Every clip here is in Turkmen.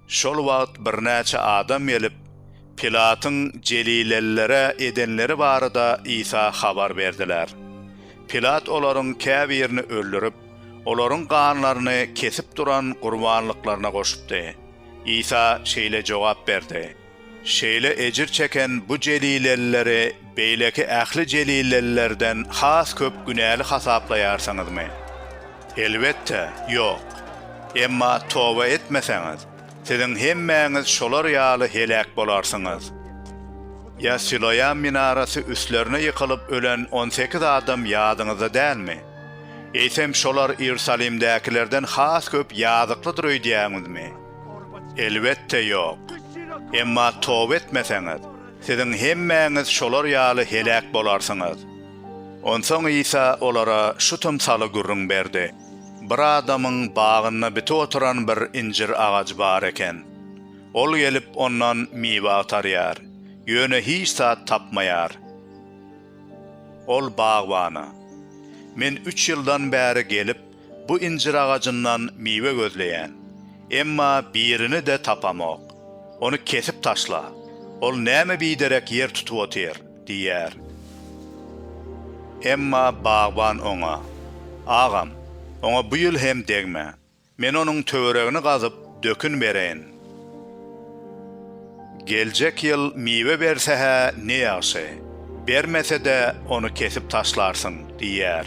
Şol wagt birnäçe adam gelip, Pilatyň jelilelilere edenleri barada Isa habar berdiler. Pilat olaryň käbirini öldürip, olaryň ganlaryny kesip duran gurbanlyklaryna goşupdy. Isa şeýle jogap berdi. Şeýle ejir çeken bu jelilelileri beýleki ähli jelilelilerden has köp günäli hasaplaýarsyňyzmy? Elbetde, ýok. Emma toba etmeseňiz, siziň hemmäňiz şolar ýaly heläk bolarsyňyz. Ýa Siloam minarasy üstlerine ýykylyp ölen on sekiz adam ýadyňyzda dälmi? Eýsem şolar Iýerusalimdäkilerden has köp ýazyklydyr öýdýäňizmi? Elbetde ýok. Emma toba etmeseňiz, siziň hemmäňiz şolar ýaly heläk bolarsyňyz. Onsoň Isa olara şu tymsaly gürrüň berdi, Bir adamyň bagynda bitip oturan bir injir agajy bar eken. Ol gelip, ondan miwe agtarýar, ýöne hiç zat tapmaýar. Ol bagbana, Men üç ýyldan bäri gelip, Bu injir agajyndan miwe gözleýän. Emma birini-de tapamok. Ony kesip taşla. Ol näme biderek ýer tutup otyr? diýýär. Emma bagban oňa. Agam, oňa bu ýyl hem degme. Men onuň töweregini gazyp, dökün bereýin. Geljek ýyl miwe berse-hä ne ýagşy. Bermese-de, ony kesip taşlarsyň, diýýär.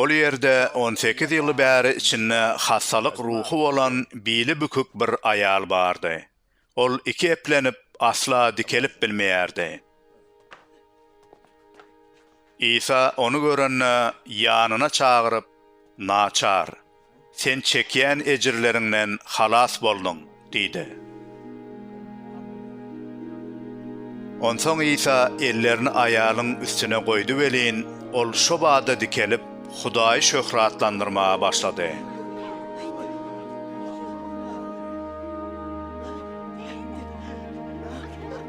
Ol ýerde on sekiz ýyl bäri içinde hassalyk ruhy bolan bili bükük bir aýal bardy. Ol iki eplenip, asla dikelip bilmeýärdi. Isa ony görende, ýanyna çagyryp, Naçar, Sen çekýän ejirleriňden halas bolduň diýdi. Onsoň Isa ellerini aýalyň üstüne goýdy welin, ol şo bada dikelip, Hudaýy şöhratlandyrmaga başlady.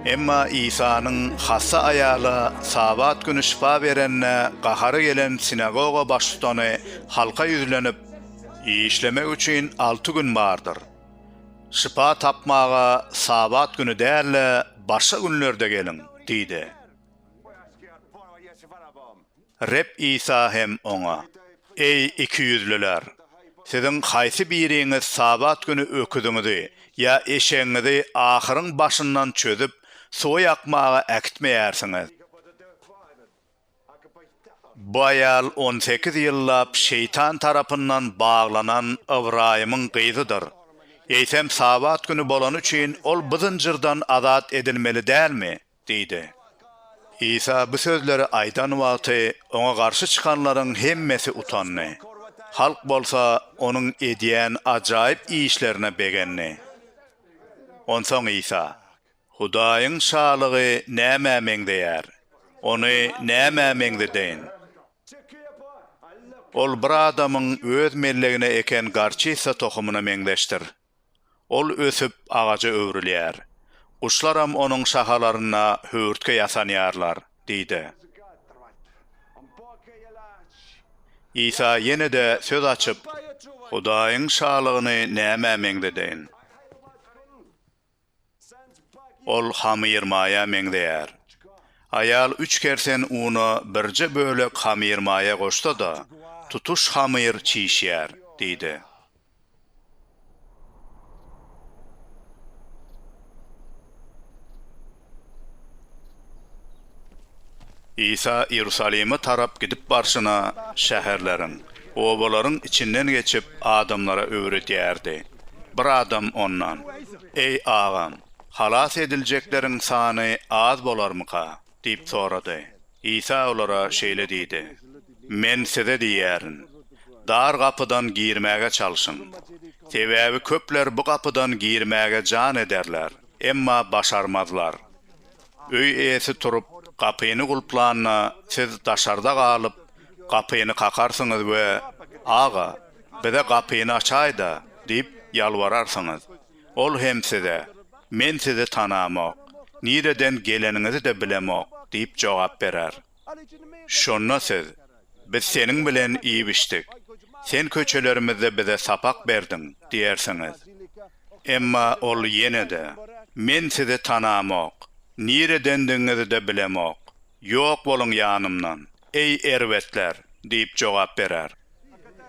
Emma Isanyň hassa aýala Sabat güni şypa berenine gahary gelen sinagoga baştutany Halka ýüzlenip, işlemek üçin alty gün bardyr. Şypa tapmaga Sabat güni däl-de, başga günlerde geliň! diýdi. Reb Isa hem oňa, Eý, ikiýüzlüler! Siziň haýsy biriňiz Sabat güni öküziňizi ýa eşegiňizi ahyryň başyndan çözüp, suwa ýakmaga äkitmeýärsiňiz? Bu aýal on sekiz ýyllap şeýtan tarapyndan baglanan Ybraýymyň gyzydyr. Eýsem, Sabat güni bolany üçin, ol bu zynjyrdan azat edilmeli dälmi? diýdi. Isa bu sözleri aýdan wagty, oňa garşy çykanlaryň hemmesi utandy. Halk bolsa onuň edýän ajaýyp işlerine begendi. Onsoň Isa. Hudaýyň Şalygy nämä meňzeýär? Ony nämä meňzedeýin? Ol bir adamyň öz mellegine eken gorçisa tohumyna meňzeşdir. Ol ösüp, agaja öwrülýär. Guşlaram onuň şahalarynda höwürtge ýasanýarlar, diýdi. Isa ýene-de söz açyp, Hudaýyň Şalygyny nämä meňzedeýin? Ol hamyrmaýa meňzeýär. Aýal üç kersen una birje bölek hamyrmaýa goşsa-da, tutuş hamyr çişýär, diýdi. Isa Iýerusalime tarap gidip barşyna, şäherleriň, obalaryň içinden geçip, adamlara öwredýärdi. Bir adam Ondan, Eý, Agam, halas ediljekleriň sany az bolarmyka? diýip sorady. Isa olara şeýle diýdi, Men size diýýärin, dar gapydan girmäge çalşyň. Sebäbi köpler bu gapydan girmäge jan ederler, Emma başarmazlar. Öý eýesi turup, gapyny gulplanda, siz daşarda galyp, gapyny kakarsyňyz we, Aga, bize gapyny açaý-da! diýip ýalbararsyňyz. Ol hem size, Men sizi tanamok, nireden geleniňizi-de bilemok diýip jogap berer. Şonda siz, Biz seniň bilen iýip-içdik. Sen köçelerimizde bize sapak berdiň diýersiňiz. Emma ol ýene-de, Men sizi tanamok, niredendigiňizi-de bilemok. Ýok boluň ýanymdan, eý, erbetler! diýip jogap berer.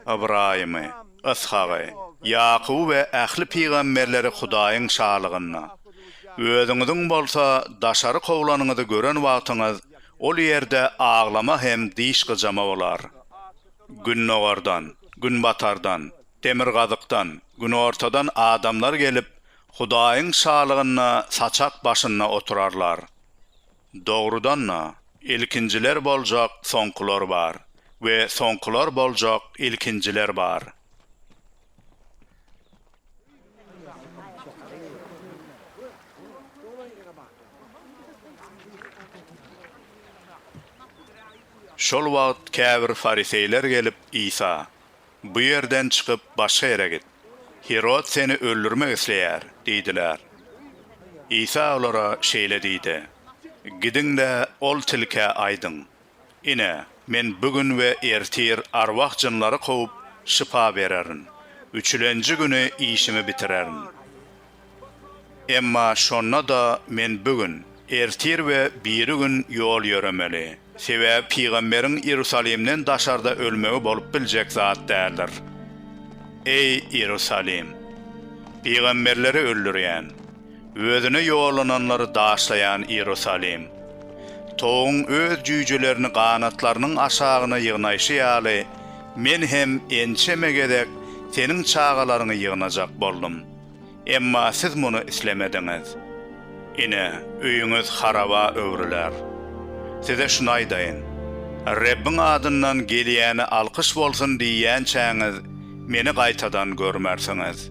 Ybraýymy, Yshagy, Ýakuby we ähli pygamberleri Hudaýyň şalygynda, özüňiziň bolsa daşary kowlanyňyzy gören wagtyňyz, ol ýerde aglama hem diş gyjama bolar. Gündogardan, günbatardan, Demirgazykdan, günortadan adamlar gelip, Hudaýyň Şalygynda saçak başynda oturarlar. Dogrudan-da, ilkinjiler boljak soňkular bar we soňkular boljak ilkinjiler bar. Şol wagt käbir fariseýler gelip Isa, Bu ýerden çykyp, başga ýere git. Hirod seni öldürmek isleýär diýdiler. Isa olara şeýle diýdi, Gidiň-de, ol tilkä aýdyň, Ine, men bu gün we ertir arwah jynlary kowup, şypa bererin, üçülenji güni işimi bitirerin. Emma şonda-da men bu gün, ertir we biri gün ýol ýöremeli. Sebäbi pygamberiň Iýerusalimden daşarda ölmegi bolup biljek zat däldir. Eý, Iýerusalim! Pygamberleri öldürýän, Özüne ýollananlary daşlaýan Iýerusalim! Towugyň öz jüýjelerini ganatlarynyň aşagyna ýygnaýşy ýaly, Men hem ençeme gezek seniň çagalaryňy ýygnajak boldum. Emma siz muny islemediňiz. Ine, öýüňiz haraba öwrüler. Size şuny aýdaýyn, Rebbiň adyndan gelýäne alkyş bolsun diýýänçäňiz, Meni gaýtadan görmersiňiz.